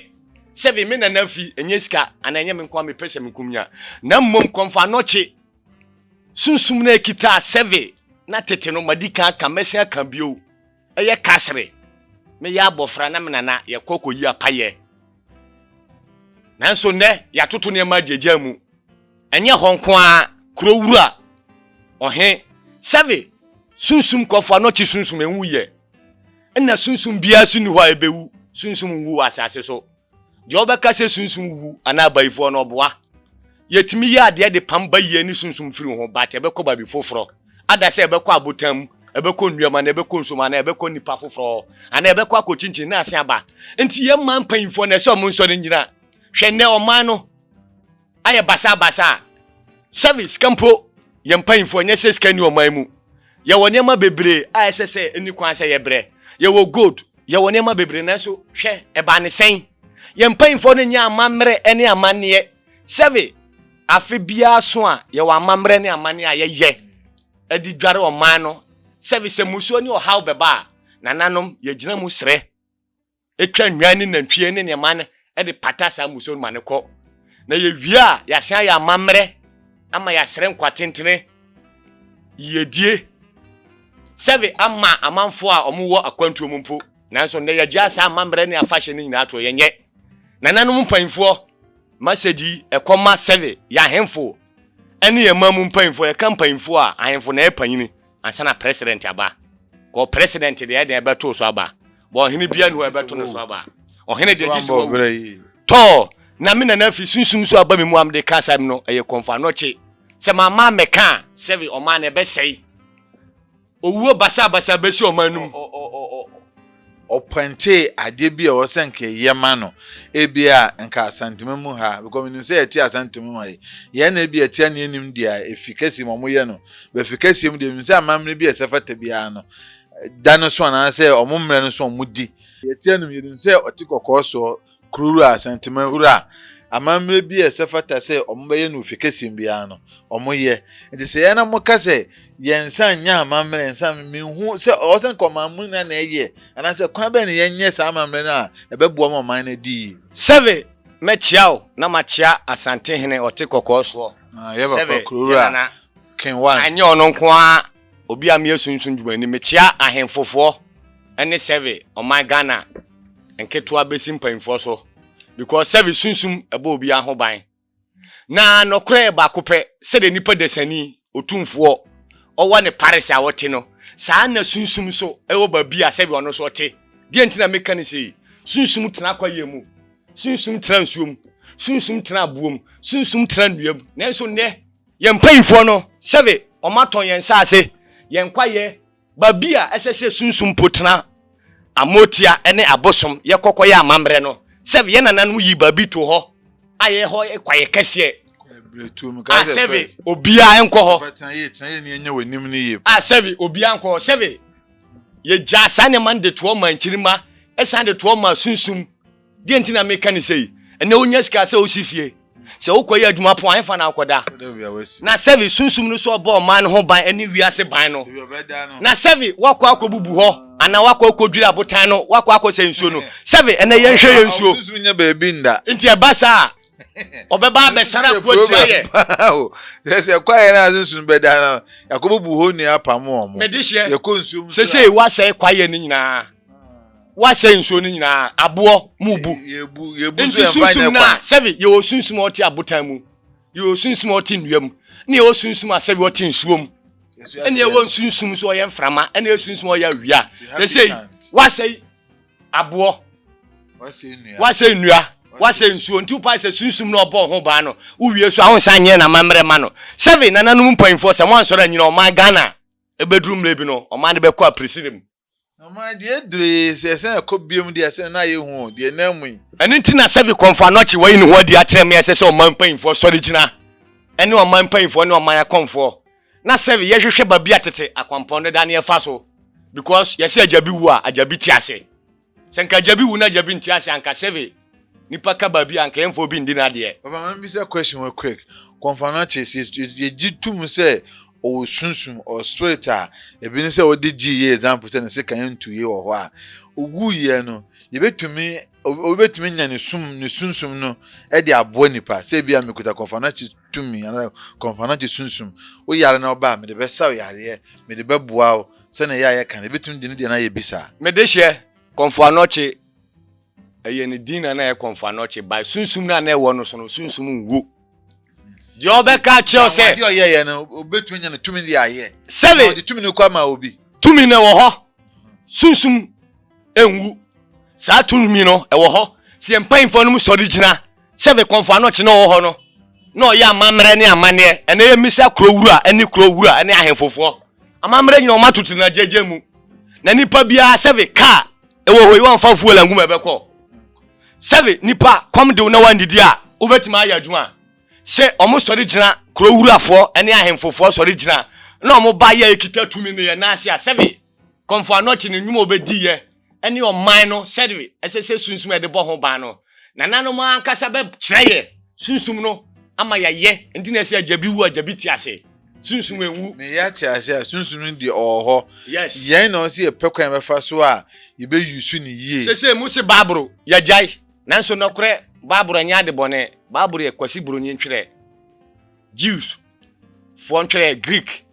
sɛve me nana fi ɛnyɛ sika ana ɛnyɛ me nkoa mepɛ sɛ mekum nya na mmom kɔmfo anɔkye Sunsum no a ekitaa sɛve na tete no, madi kan aka, mɛsen aka bio, yɛ Kasre. Meyɛ abofra na me nana yɛkɔ kɔyi apayɛ. Nanso nnɛ yɛatoto nneɛma agyaagyaa mu. Ɛnyɛ hɔ nko ara, kuro wura, ɔhe, sɛve, sunsum kɔfo a na ɔkye sunsum, enwu yɛ. Nna sunsum biara nso nni hɔ a ebewu, sunsum nwu wɔ asase so. Deɛ ɔbɛka sɛ sunsum wu anaa bayifoɔ no, ɔboa. Yɛtumi yɛ adeɛ de pam bayie ne sunsum firi ho, but ɛbɛkɔ baabi foforɔ. Ada sɛ ɛbɛkɔ abotan mu, ɛbɛkɔ nnua mu, anaa ɛbɛkɔ nsuo mu, anaa ɛbɛkɔ nnipa foforɔ hɔ, anaa ɛbɛkɔ akɔkyinkyin na asan aba. Nti yɛn man mpanyimfoɔ na ɛsɛ ɔmo nsɔre nnyina. Hwɛ nnɛ ɔman no. ayɛ basaa basaa sɛbe sika mpo yɛ mpaimfoɔ nyɛ sɛ sika nni ɔman mu yɛwɔ nneɛma bebree a ɛsɛ sɛ ɛni kwan sɛ yɛbrɛ yɛwɔ gold yɛwɔ nneɛma bebree nanso hwɛ ɛbaa ne sɛn yɛ mpaimfoɔ no nyɛ amammerɛ ɛne amanneɛ sɛbe afe biara so a yɛwɔ amammerɛ ne amanneɛ a yɛyɛ ɛde dware ɔman no sɛbe sɛ musuo ne ɔhaw bɛba a nananom yɛgyina mu srɛ twa nnwan ne nantwie ne nneɛma no de pata saa mmusuo no ma no kɔ. Na yɛwie a, yɛasan ayɛ amammerɛ ama yɛasrɛ nkwa tentene, yiedie, sɛbe ama amanfoɔ a wɔwɔ akwantuo mu mpo. Nanso nnɛ yɛagyaa saa amammerɛ ne afahyɛ no nyinaa toɔ, yɛnyɛ. Nananom mpanyimfoɔ, Masedi, ɛkɔma sɛbe yɛn ahemfo ne yɛn man mu mpanyimfoɔ, yɛka mpanyimfoɔ a, ahemfo na ɛyɛ panyini. Ansa na president aba. Kɔ president deɛ ɛdeɛ ɛbɛto wo so aba. Bɔ ɔhene bia ni hɔ ɛbɛto ne so aba. Ɔhene deɛ gye sɛ wawu. Tɔɔ, na me nana fi sunsum so aba me mu a mede ka asɛm no, ɛyɛ kɔmfo anɔkye. Sɛ mamma ammɛka a, sɛbe ɔman no ɛbɛsɛe. Owuo basabasa bɛsi ɔman no mu. ɔpɔntee adeɛ bi a ɛwɔ sɛ nka yɛma no ebia nka asantema mu ha because menim sɛ yɛte asantema mu ha yi yɛn na ebia tia ne anim deɛ a efi kɛseɛ mu wɔyɛ no bɛfi kɛseɛ mu deɛ menim sɛ amammerɛ bi a ɛsɛ fata biara no da no so anaasɛ wɔn mmerɛ no so wɔn di yɛte anom yɛnim sɛ ɔte kɔkɔɔ soɔ Kuro wura Asantuma wura amammerɛ bi a ɛsɛ fata sɛ wɔbɛyɛ no ofi kɛseɛ mu biara no wɔyɛ nti sɛ yɛn na moka sɛ yɛn nsa nyɛ amammerɛ nsa menhu sɛ ɔwɔ sɛ nka ɔman mu nyinaa na ɛyɛ anaasɛ kwan bɛn na yɛnyɛ saa amammerɛ no a ɛbɛboa ma ɔman no adi yi. Sɛve mɛkyea wo na makyea Asantehene ɔte kɔkɔɔ soɔ. Ah, yɛba pa Kuro wura Ken one. Anyɛ ɔno nko ara. Obi a meyɛ sunsum dwumani mekyea ahenfo foɔ ɛne sɛve ɔman Ghana nketewa bɛsi mpaninfoɔ so because sɛve sunsum ɛbɔ obiara ho ban na nɔkorɛ yɛ baako pɛ sɛdeɛ nipa dasani otumfoɔ ɔwɔ ne paris a ɔte no saa na sunsum nso ɛwɔ baabi a sɛve ɔno nso ɔte deɛ nti na meka ne sei sunsum tena kwaeɛ mu sunsum tena nsuo mu sunsum tena aboɔ mu sunsum tena nnua mu nanso nnɛ Yɛn mpanyimfoɔ no, sɛbe wɔatɔn yɛn nsase, yɛn kwaeɛ, baabi a ɛsɛ sɛ sunsum po tena, amotia ne abosom, yɛkɔ kɔyɛ amammerɛ no, sɛbe yɛn nananom yii baabi too hɔ a ɛhɔ yɛ kwaeɛ kɛseɛ, a sɛbe obiara nkɔ hɔ, a sɛbe obiara nkɔ hɔ, sɛbe yɛgyaa saa nneɛma no de toɔ maa nkyirimma, san de toɔ maa sunsum. Deɛ nti na meka ne sei, ɛnɛ wonya sika sɛ wosi fie, sɛ wokɔyɛ adwuma po a ɛmfa na wokɔda. Na sɛbe sunsum no so ɔbɔ ɔman no ho ban ne wiase ban no. Na sɛbe woakɔ akɔbubu hɔ anaa woakɔ akɔdwiri abotan no, woakɔ akɔsɛ nsuo no. Sɛbe ɛnɛ yɛnhwɛ yɛ nsuo. Nti ɛba saa a, ɔbɛba abɛsara akoatia yɛ. Sɛ kwaeɛ no a sunsum bɛda no, yɛakɔbubu hɔ nnua apamo wɔn. Mede hyɛ, sesei woasɛe kwaeɛ no nyinaa. wasɛe nsuo no nyinaa aboɔ mu bu nti sunsum no a sɛbi yɛwɔ sunsum a ɔte abotan mu yɛwɔ sunsum a ɔte nnua mu ne yɛwɔ sunsum a sɛbi ɔte nsuo mu ɛne yɛwɔ sunsum so ɔyɛ mframa ɛne yɛ sunsum ɔyɛ awia ɛsɛ yi wasɛe aboɔ wasɛe nnua wasɛe nsuo nti wopa sɛ sunsum na ɔbɔ ho baa no wowie so ahonsa nyɛ na mammerɛ ma no sɛbi nananom mpanyimfoɔ sɛ mo ansɔre anyina ɔman ghana ɛbɛduru mmerɛ bi no ɔman no bɛkɔ apirisiri mu Ɔmaa deɛ ɛduree sɛ ɛsɛ ɛkɔ biom deɛ ɛsɛ na ayɛ hu o, deɛ ɛnam mu yi. Ɛno nti na Sɛvi Kɔmfo Anokye wayi ne ho adi akyerɛ me a ɛsɛ sɛ ɔman mpanyimfoɔ sɔre gyina ɛne ɔman mpanyimfoɔ ne ɔman akɔmfoɔ na Sɛvi yɛhwehwɛ baabi a tete akwampɔn deda ne yɛfa so because yɛse agya bi wu a agya bi te ase. Sɛ nka agya bi wu na agya bi nte ase a nka Sɛvi Nipa ka baabi a nka yɛmfa obi ndi n'adeɛ. Papa ma me bisa question wei quick, Kɔnfanakye sɛ yɛgye tum sɛ ɔwɔ sunsum or spirit a ebi ne sɛ wɔde gyee yɛ example sɛ ne sekan ntu yɛ wɔ hɔ a ɔwuu yɛ no yɛbɛtumi obi bɛtumi anya ne sum ne sunsum no de aboa nipa sɛ ebia mekuta Kɔnfanakye tumi anaa Kɔnfanakye sunsum wo yare na woba a mede bɛsa wo yareɛ mede bɛboa wo sɛnea ɛyɛ a yɛka no yɛbɛtumi de ne deɛ no ayɛ bi saa. Mede hyɛ Kɔnfoanɔkye Ɛyɛ ne din na na ɛyɛ kɔnfanɔkye by sunsum na na ɛwɔ no so no sunsum nwu. Deɛ ɔbɛka kyerɛ sɛ. Adeɛ ɔyɛ yɛ no obetumi nya no tumi de ayɛ. Sɛbi. Ɔde tumi no kɔ ama obi. Tumi no ɛwɔ hɔ. Sunsum nwu. Saa tumi no ɛwɔ hɔ. Sɛ yɛn mpanyinfoɔ no mu sɔre gyina sɛbi kɔnfanɔkye na ɔwɔ hɔ no na ɔyɛ amammerɛ ne amanneɛ ɛnɛ yɛ mmisa kuro wura ɛne kuro wura ɛne ahemfofoɔ amammerɛ nyina wɔn atoto na gyegye mu na nipa biara sɛbi kaa ɛwɔ hɔ yi wamfa fuel angu ma ɛbɛkɔ sɛbe nipa kɔm de wo na wandidi a wobɛtumi ayɛ adwuma a sɛ ɔmo sɔre gyina kuro wurafoɔ ɛne ahemfofoɔ sɔre gyina na ɔmo ba yɛ ekita tumi ne yɛ naase a sɛbe kɔmfo anɔkye ne nnwuma obɛdi yɛ ɛne ɔman no sɛbe ɛsɛ sɛ sunsum ɛde bɔ ho ban no Nananom ankasa bɛkyerɛ yɛ sunsum no ama yɛayɛ. Nti na ɛsɛ agya bi wu, agya bi te ase. Sunsum enwu. Na yɛ ate ase a, sunsum no deɛ ɔwɔ hɔ. Yes. Yɛn na ɔsɛ yɛpɛ kwan yɛbɛfa so a yɛbɛ use no yie. Sesei mo se Bible yɛagyae. Nanso nɔkorɛ Bible nyɛ ade bɔne. Bible yɛ Kwasi Buronyi ntwerɛɛ, Jews foɔ ntwerɛɛ, Greek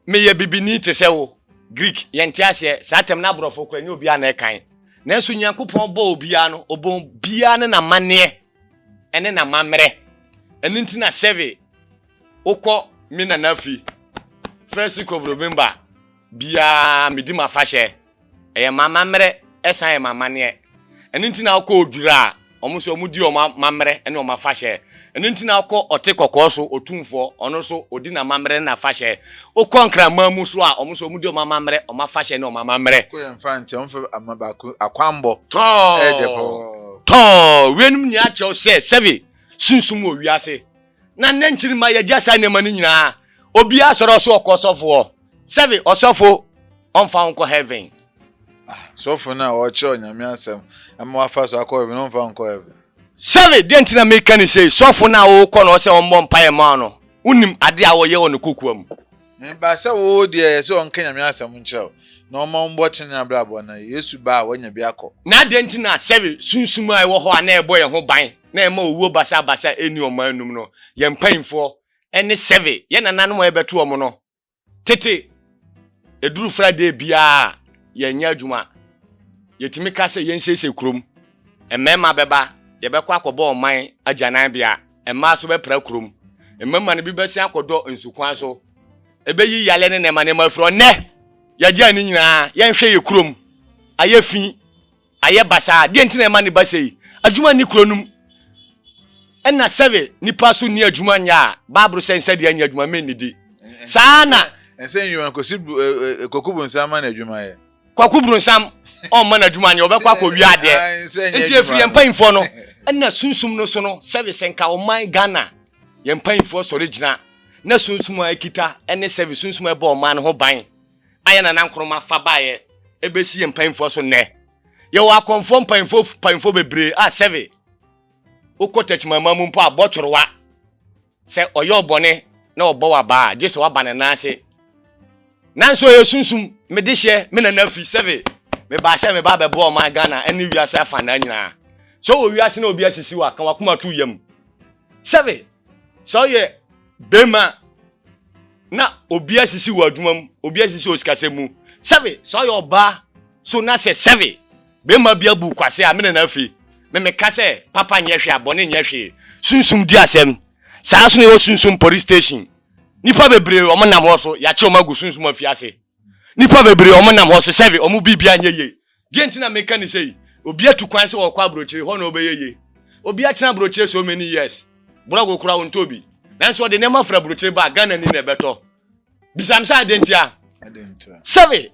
Meyɛ bibini te sɛ wo. Greek, yɛnte aseɛ, saa tɛm no aborɔfo koraa ɛnyɛ obiara na ɛkan. Nanso Nyankopɔn bɔɔ obiara no, ɔbɔɔ obiara ne n'amanneɛ ɛne n'amammerɛ. Ɛno nti na sɛbe wokɔ me nana fie first week of November biara medi m'afahyɛ Ɛyɛ m'amammerɛ san yɛ m'amanneɛ. Ɛno nti na wokɔ Odwira a, wɔn nso wɔdi wɔn amammerɛ ne wɔn afahyɛ. Ɛno nti na wokɔ Ɔte Kɔkɔɔ so, Otumfoɔ, ɔno nso ɔdi n'amammerɛ ne n'afahyɛ. Wokɔ Nkraman mu nso a, wɔn nso wɔdi wɔn amammerɛ, wɔn afahyɛ ne wɔn amammerɛ. Kɔ yɛn mfa nkyɛ, wɔmfa ama baako akwammɔ. Tɔɔ! Tɔɔ! Weinom nyinaa kyerɛ wo sɛ, sɛbe sunsum wɔ wiase, Na nnɛ nkyirimma yɛgya saa nneɛma no nyinaa. Obiara sɔre ɔso ɔkɔ ɔsɔfo hɔ. Sɛbe ɔsɔfo ɔmfa wo nkɔ heaven. Ah, sɔfo no a ɔrekyerɛ Onyame asɛm ma wafa so akɔ heaven no ɔmfa wo nkɔ heaven. Sɛbe deɛ nti na meka no sei, sɔfo no a wokɔ no hɔ sɛ ɔmmɔ mpaeɛ mma wo no, wonim ade a ɔyɛ wɔ ne kokoa mu. Me ba, sɛ wo deɛ ɛyɛ sɛ ɔnka Nyame asɛm nkyerɛ wo, na ɔma wo mmɔ tenenee abrabɔ na Yesu ba a, wanya bi akɔ. Na adɛn nti na sɛbe sunsum a ɛwɔ hɔ a na ɛbɔ yɛn ho ban na ɛma owuo basabasa nni ɔman no mu no, yɛn mpanyimfoɔ ne sɛbe yɛn nananom a yɛbɛto wɔn no tete ɛduru Friday biara a, yɛnyɛ adwuma? Yɛtumi ka sɛ yɛnsiesie kurom. Mmarima bɛba, yɛbɛkɔ akɔbɔ ɔman agyananbea, mmaa nso bɛpra kurom. Mmarima no bi bɛsen akɔdɔ nsukwan so. Ebeyi yale ne nneɛma nneɛma afiri hɔ. Nnɛ, yɛagyaa ne nyinaa. Yɛnhwɛ yɛn kurom. Ayɛ fi. Ayɛ basaa. Deɛ nti na ɛma ne ba sei? Adwuma nni kuro no mu. Ɛna sɛ nipa so nni adwuma nyɛ a, Bible sɛ nsɛ deɛ nyɛ adwuma, mennidi. Saa na. Ɛsɛ nnwuma, kɔsi kɔkubu nsa ama no adwuma yɛ. Kwaku Bronsam ɔmma n'adwuma nyɛ ɔbɛkɔ akɔwia adeɛ nti ɛfiri yɛn mpanyinfoɔ no ɛna sunsum no so no service nka ɔman Ghana yɛn mpanyinfoɔ sɔre gyina na sunsum a ɛkita ɛne service sunsum a ɛbɔ ɔman no ho ban ayɛ na nankoroma fa baeɛ ɛbɛsi yɛn mpanyinfoɔ so nnɛ yɛwɔ akɔnfoɔ mpanyinfoɔ mpanyinfoɔ bebree a sɛve wokɔ tɛkyimama mu mpo a bɔtorowa sɛ ɔyɛ wo bɔne na ɔbɔ wo abaa a, gye sɛ woaba ne nan ase. Nanso ɛyɛ sunsum. Me dehyeɛ, me nana fi sɛbe mebaa sɛ meba abɛboa ɔman Ghana ne wiase afanaa nyinaa. Sɛ wowɔ wiase na obi asisi wo a, ka w'akoma to wo yam. Sɛbe sɛ woyɛ barima na obi asisi wo adwuma mu, obi asisi wo sikasɛm mu. Sɛbe sɛ woyɛ ɔbaa so na sɛ sɛbe Bɛrima bi abu kwasea a me ne no afi. Me meka sɛ papa nyɛ hwee a bɔne nyɛ hwee. Sunsum di asɛm. Saa ara nso na ɛwɔ Sunsum Police Station. Nnipa bebree wɔn nam hɔ so yɛakye wɔn agu sunsum afiase. Nnipa bebree wɔn nam hɔ so sɛbe wɔn biribiara nyɛ yie. Deɛ nti na meka ne sei, obi atu kwan sɛ ɔrekɔ abrokyire, hɔ na ɔbɛyɛ yie. Obi atena abrokyire so many years, brɔgo koraa ɔntɔ bi. Nanso ɔde nneɛma firi abrokyire ba a, Ghanani na ɛbɛtɔ. bisam sɛ adɛn ntia sɛbe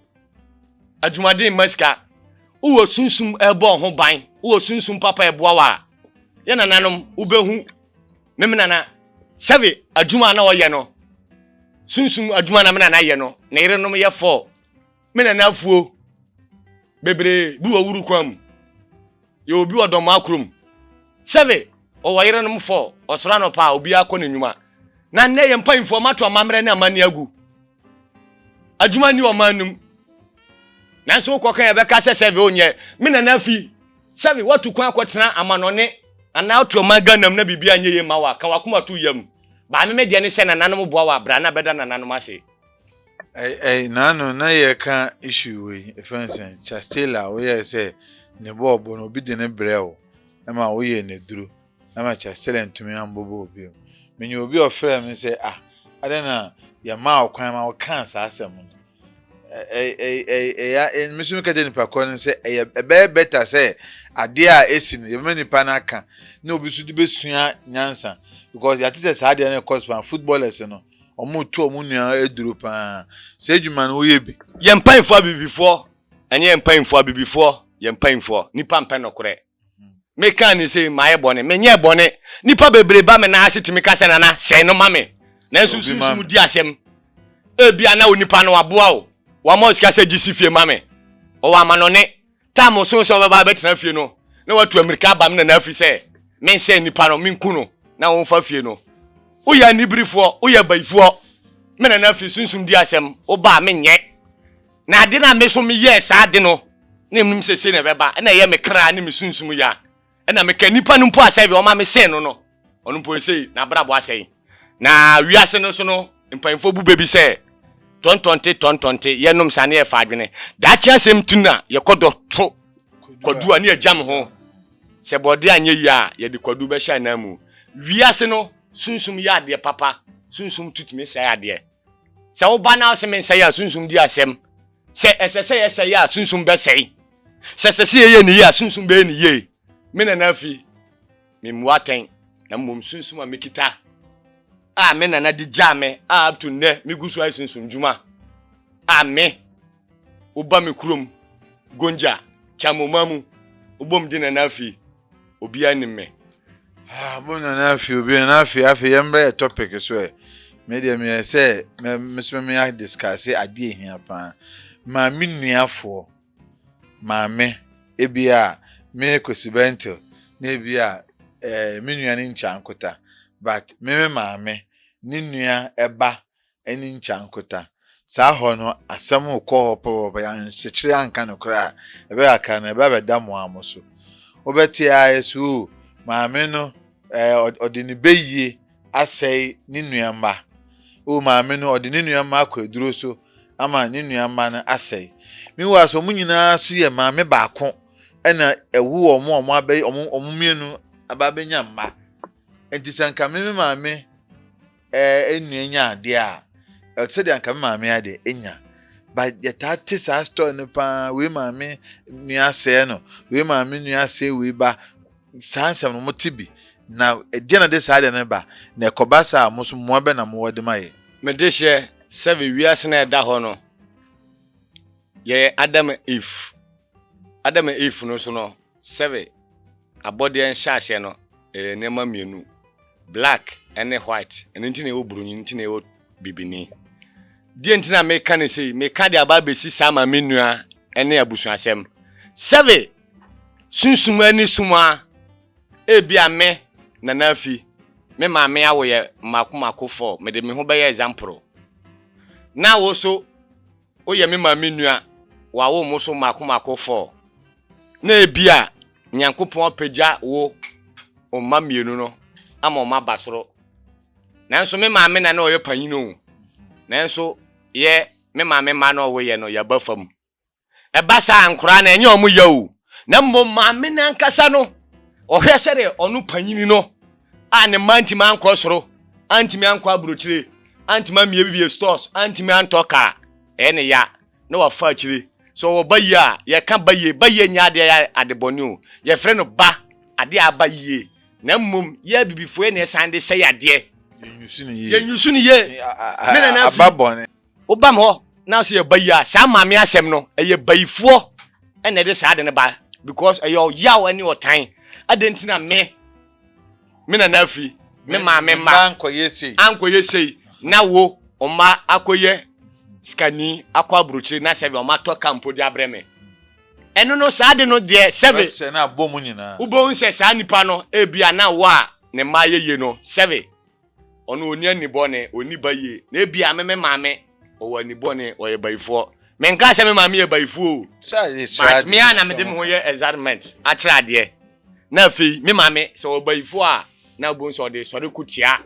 adwumaden mma sika wowɔ sunsum ɛbɔ ho ban wowɔ sunsum papa ɛboa wa a yɛ nananom wobɛhu meme nana sɛbe adwuma na ɔyɛ no sunsum adwuma na me nana yɛ no ne yerenom yɛ fɔɔ Me nanafuo bebree bi wɔ wuru kwan mu. Yɛ obi wɔ dɔm akurom. Sɛbe ɔwɔ yerenom fɔ ɔsoro anɔpa a obiara kɔ n'anwuma. Na nnɛ yɛ mpanyinfoɔ ɔmo ato amammerɛ ne amanneɛ agu. Adwuma nni ɔman no mu. Nanso wokɔ kan yɛbɛka sɛ sɛbe onyɛ. Me nanafi sɛbe watu kwan akɔtena amanɔne anaa wote ɔman Ghana mu na biribiara nyɛ yie mma wo a, ka w'akoma to yam. Baa me me deɛ ne sɛ nananom boa wo a bra na bɛda nananom ase. Ɛɛ naanu na yɛka issue wei efɛn sɛ Chastela woyɛ sɛ ne bɔ ɔbɔ no obi de ne brɛ wo ɛma woyɛ ne duro ɛma Chastela ntumi ambɔbɔ obi mu menyɛ obi ɔfrɛ me sɛ ah adɛn na yɛmaa wo kwan ma wokaa saa asɛm no ɛyɛ me so meka kyerɛ nipa korɔ no sɛ ɛyɛ ɛbɛyɛ bɛta sɛ adeɛ a ɛsi no yɛbɛma nipa no aka na obi so de bɛsua nyansa because yɛate sɛ saa adeɛ no ɛkɔ span footballers no Wɔretu wɔn nua aduro paa. Saa adwuma no woyɛ bi? Yɛn mpanyinfoɔ abibifoɔ, ɛnyɛ yɛn mpanyinfoɔ abibifoɔ, yɛn mpanyinfoɔ. Nipa mpɛ nɔkorɛ. Me kan ni sɛ ma yɛ bɔne, me nyɛ bɔne. Nipa bebree ba me nan ase tumi ka sɛ nana sɛɛ no ma me. Nanso sunsum di asɛm. Ebia na onipa no waboa wo, wama wo sika sɛ gye si fie ma me. Ɔwɔ amanɔne. Tam osoo sɛ ɔbɛba abɛtena fie no, na watu amirika aba me nana afi sɛ menhyɛ nnipa no menku no na wɔmfa fie no. Woyɛ aniberefoɔ, woyɛ abayifoɔ. Me nana afi sunsum di asɛm, wobaa menyɛ. Na ade no a me nso meyɛɛ saa ade no, na menim sɛ sei na ɛbɛba, ɛna ɛyɛ me kra ne me sunsum ya. ɛna meka nnipa no mpo asɛe wɔma me sen no no ɔno mpo ɛsei n'abrabɔ asɛe na wiase no so no mpanyinfoɔ bu bɛbi sɛ tɔntɔnte tɔntɔnte yɛnom sa ne yɛfa adwene daakye asɛm ti na yɛkɔ dɔ to kwadu a ne yɛgyam ho sɛ bɔde anyɛ yie a yɛde kwadu bɛhyɛ anan mu wiase no sunsum yɛ adeɛ papa sunsum tutumi sɛe adeɛ Sɛ woba na ɔse mensɛe a, sunsum di asɛm. Sɛ ɛsɛ sɛ yɛsɛe a, sunsum bɛsɛe. Sɛ ɛsɛ sɛ yɛyɛ no yie a, sunsum bɛyɛ no yie. Me nana fi, memmu atɛn, na mmom sunsum a mekita a me nana de gyaa me a up to nnɛ megu so ayɛ sunsum dwuma a me Woba me kurom Gonja, Chamoma mu, wobom de Nana Afei, Obiara Nim Me. Ah, wobom Nana Afei, Obiara Nana Afei, afei yɛmmra yɛ topic so ɛ. Me deɛ meyɛ sɛ mɛ mesoma me a discuss adeɛ ehia paa. Maame nuafoɔ, maame, ebi a me Kwesi Bɛntil na ebi a eh, me nua ne nkyankota but me me maame ne nua ɛba ɛne nkyeankota. Saa hɔ no, asɛm rekɔ hɔ pɛpɛpɛ, yɛanhyekyere anka no koraa a, ɛbɛkakra no, ɛba bɛda mo ara mo so. Wobɛte ara sɛ, Oo, maame no, ɛɛ, ɔde ne bayie asɛe ne nua mma. Oo, maame no, ɔde ne nua mma akɔ aduro so ama ne nua mma no asɛe. Meanwhile, so wɔn nyinaa so yɛ maame baako na ɛwo wɔn a wɔabɛyɛ wɔn mmienu aba abɛnya mma. Nti sɛ nka me me maame ɛɛ nua nya adeɛ a ɛte sɛ deɛ anka me maame ayɛ deɛ ɛnya ba yɛtaa te saa story no paa wei maame nua asɛe no wei maame nua asɛe wei ba saa nsɛm no mote bi na ɛdeɛ na de saa deɛ no ba na ɛkɔba saa a mo so mmoa bɛ na mowɔ de ma yɛ. mede hyɛ sɛ wiase no a ɛda hɔ no yɛyɛ adam if adam if no so no Sɛbe abɔdeɛ nhyɛaseɛ no ɛyɛ nneɛma mmienu, black ne white, ɛno nti na yɛwɔ broni, nti na yɛwɔ bibini. Deɛ nti na meka ne sei, meka de aba abɛsi saa ma me nua ne abusuasɛm. Sɛbe sunsum ani sum a, ebia me, Nana Afi, me maame awo yɛ mmaako mmaako four, mede me ho bɛyɛ example, na wo so, Wo yɛ me maame nua, wawo mo so mako mako four. Na ebia Nyankopɔn apagya wo mma mmienu no ama wɔn aba soro. Nanso me maame na na ɔyɛ panyin o. Nanso yɛ me maame mma no ɔwo yɛ no yɛaba fam. Ɛba saa nkoraa no ɛnyɛ wɔn ya o. Na mmom maame no ankasa no ɔhwɛ sɛdeɛ ɔno panyin no. a ne mma ntumi ankɔ soro, antumi ankɔ aburokyire, antumi amie bibie stores, antumi antɔ kaa, ɛyɛ ne ya na wafa akyire. Sɛ ɔwɔ ba yie a, yɛka ba yie, ba yie nyɛ adeɛ yɛ ade bɔne o, yɛfrɛ no ba, adeɛ a aba yie, na mmom yɛ abibifoɔ yɛ na yɛsan de sɛe adeɛ. Yɛnyusu no yie. Yɛnyusu no yie. Ne nana fi. Aba bɔne. Wobam hɔ na sɛ yɛba yi a, saa maame asɛm no, ɛyɛ bayifoɔ na ɛde saa ade no ba because ɛyɛ ɔyaw ne ɔtan. Adɛn nti na me, me nana afiri, me maame mma ankɔyɛ sei na wo mma akɔyɛ sikani akɔ aburokyire na sɛbe wɔn atɔ ka mpo de abrɛ me? Ɛno no saa ade no deɛ sɛbe wobɛhu sɛ saa nipa no ebia na awoɔ a ne mma ayɛ yie no sɛbe. ɔno ɔnni anibɔne, ɔnni bayie. Na ebia me me maame ɔwɔ anibɔne, ɔyɛ bayifoɔ. Menkaa sɛ me maame yɛ bayifoɔ o, but me ara na mede me ho yɛ excitement akyerɛ adeɛ. Na afei me maame sɛ ɔwɔ bayifoɔ a, na wobɛhu sɛ ɔde sɔre ko tia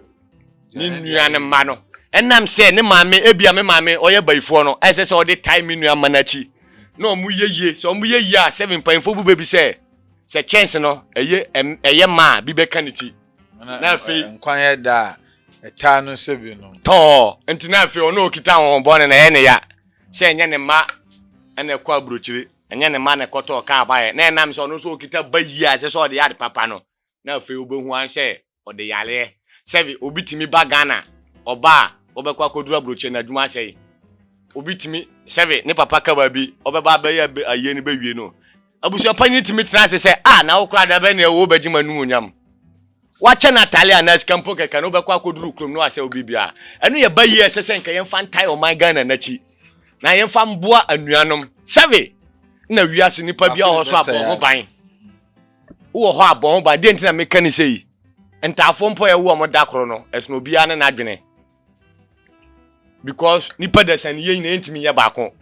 ne nua no mma no. Ɛnam sɛ ne maame, ebia me maame ɔyɛ bayifoɔ no, ɛsɛ sɛ ɔde tae me nua mma no akyi. Na wɔyɛ yie, sɛ wɔyɛ yie a, seven, mpaninfoɔ bu bɛ bi sɛ, sɛ kyɛnse no ɛyɛ mma a, bi bɛka ne ti. Na afei. Nkwa yɛ da a ɛtaa no sɛ bi no. Tɔɔ, nti na afei ɔno a ɔkita ahonhommɔne no ɛyɛ ne ya sɛ ɛnyɛ ne mma na ɛkɔ aburokyire, ɛnyɛ ne mma na ɛkɔtɔ ɔkaa baeɛ, na ɛnam sɛ ɔno nso ɔkita ba yie a ɛsɛ sɛ ɔde yɛ ade papa no, na afei wobɛhu ara sɛ ɔde yareɛ. Sɛbe, obi tumi ba Ghana, ɔba a, ɔbɛkɔ akɔduru aburokyire, n'adwuma asɛe. Obi tumi, sɛbe, ne papa ka baabi, ɔbɛba abɛyɛ ayie no bɛwie no, Abusuapanyin tumi tena ase sɛ, Ah, na wo koraa da bɛn na ɛwɔ hɔ wobɛgye m'anuonyam? Woakyɛ n'atade anaa sika mpo kɛkɛ na wobɛkɔ akɔduru kurom na woasɛe biribiara. Ɛno yɛ bayie a ɛsɛ sɛ anka yɛmfa ntae ɔman Ghana no akyi, na yɛmfa mboa anuanom. Sɛbe na wiase nnipa biara wɔ hɔ so a, bɔ ho ban. Wowɔ hɔ a, bɔ ho ban. Deɛ nti na meka ne sɛ yi, ntaafoɔ mpo a yɛwo wɔn da koro no, ɛsono obiara ne n'adwene. because nipa dasa ne yɛ nyina yɛntumi yɛ baako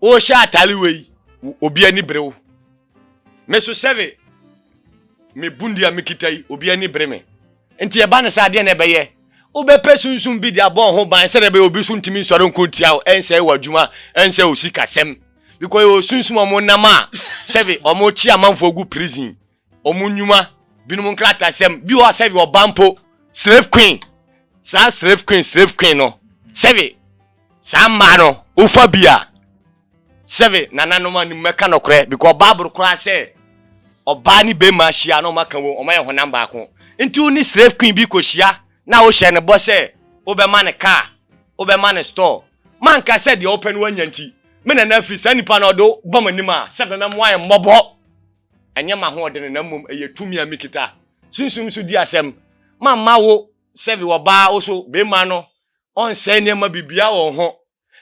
wohyɛ atare wei obi ani bere wo me so sɛbe me bundi a mekita yi obi ani bere me nti ɛba ne sɛ adeɛ na ɛbɛyɛ wobɛpɛ sunsum bi de abɔ ho ban sɛdeɛ bɛyɛ obi so ntumi nsɔre nko ntia wo ɛnsɛ wɔ adwuma ɛnsɛ osikasɛm because yɛwɔ sunsum ɔmo nam a sɛbe ɔmo kyi amanfoɔ gu prison wɔn nnwuma binom nkratasɛm bi wɔ sɛbi ɔba mpo slave queen saa slave queen slave queen no sɛbi saa mmaa no wofa bi a sɛbi nananom anim mɛka nɔkorɛ because baabolo koraa sɛ ɔbaa ne bɛrima hyia na ɔmaka wɔ ɔmayɛ honam baako nti wo ne slave queen bi kɔhyia na wohyɛ ne bɔ sɛ wobɛma ne kaa wobɛma ne store manka sɛ deɛ wopɛ no wanya nti me nana afiri saa nipa no ɔde bɔ m'anim a sɛ nana mo ayɛ mmɔbɔ Ɛnyɛ m'ahoɔdene na mmom ɛyɛ tumi a mekita. Sunsum so di asɛm. Mamma wo sɛve ɔbaa wo so beema no ɔnsɛe nneɛma biribiara wɔ wo ho,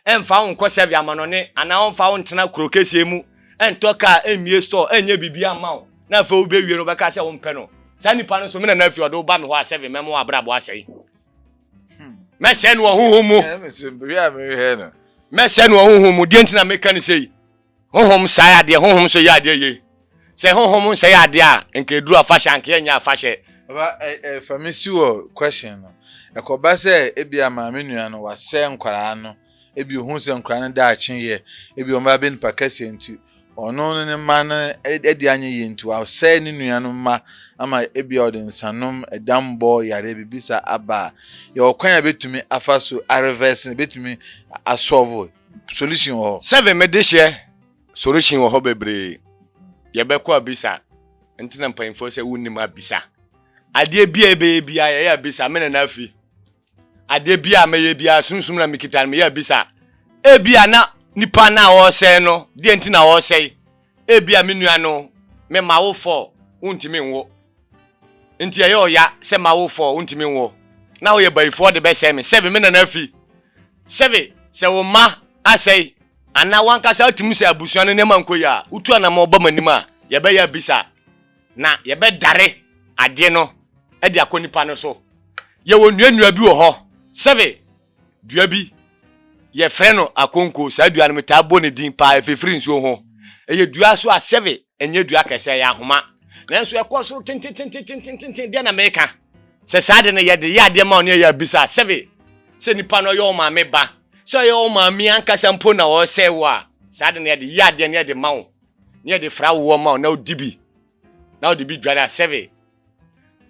ɛmfa wo nkɔ sɛve amanɔne anaa ɔmfa wo ntena kuro kɛseɛ mu, ɛntɔ kaa, ɛmmie store, ɛnyɛ biribiara mma wo na afei wobewie no wobɛka sɛ wompɛ no. Saa nipa no so me na na afiri ɔde wo ba me hɔ a sɛve mɛma w'abrabɔ asɛe. Mɛsɛe no wɔ honhom mu. Mɛsɛe no wɔ honhom mu. Deɛ nti na meka no sei, Honhom sae adeɛ, honhom nso yɛ adeɛ yie. Sɛ honhom nsɛe adeɛ a, nka ɛduru afahyɛ a, anka yɛnyɛ afahyɛ. Papa, fa me si wɔ question no. Ɛkɔba sɛ ebia maame nua no wasɛe nkwadaa no, ebia ɔhu sɛ nkwadaa no daakye yɛ, ebia wɔn ba bɛ nipa kɛseɛ nti, ɔno ne ne mma no adi anyɛ yie nti wasɛe ne nua no mma ama ebia ɔde nsanom, ɛdammɔ, yareɛ, biribi saa aba a, yɛwɔ kwan a yɛbɛtumi afa so arevɛse no, yɛbɛtumi asɔɔvo. solution wɔ hɔ. Seven me de hyɛ solution wɔ hɔ bebree yɛbɛkɔ abisa nti na mpanyinfoɔ sɛ wonim abisa adeɛ bi a yɛbɛyɛ bi a yɛyɛ abisa me nana afi adeɛ bi a mɛyɛ bi a sunsum na mekita no meyɛ abisa ebi a na nipa na ɔresɛe no deɛ nti na ɔresɛe Ebia me nua no me m'awofɔɔ wontumi nwo nti ɛyɛ ɔya sɛ m'awofɔɔ wontumi nwo na woyɛ bayifɔɔ de bɛsɛe me sɛbe me nana afi sɛbe sɛ wo mma asɛe anaa wankasa atum sɛ abusua no nneɛma nkɔ yie a wotu anamɔn ba m'anim a yɛbɛyɛ abisa na yɛbɛdare adeɛ no de akɔ nipa no so yɛwɔ nua nua bi wɔ hɔ sɛbe dua bi yɛfrɛ no akonko saa dua no metaa bɔ ne din paa ɛfifiri nsuo ho ɛyɛ dua so asɛbe ɛnyɛ dua kɛsɛ ɛyɛ ahoma nanso ɛkɔ soro tententententententen deɛ na meka sɛ saa de no yɛde yɛ adeɛ ma ɔne ɛyɛ abisa asɛbe sɛ nipa no ɔyɛ wo maame ba sɛ ɔyɛ wo maame ankasa mpo na ɔsɛ wo a saa de no yɛde yɛ adeɛ no yɛde ma wo ne yɛde fra woɔ ma wo na wodi bi na wode bi dware a sɛbe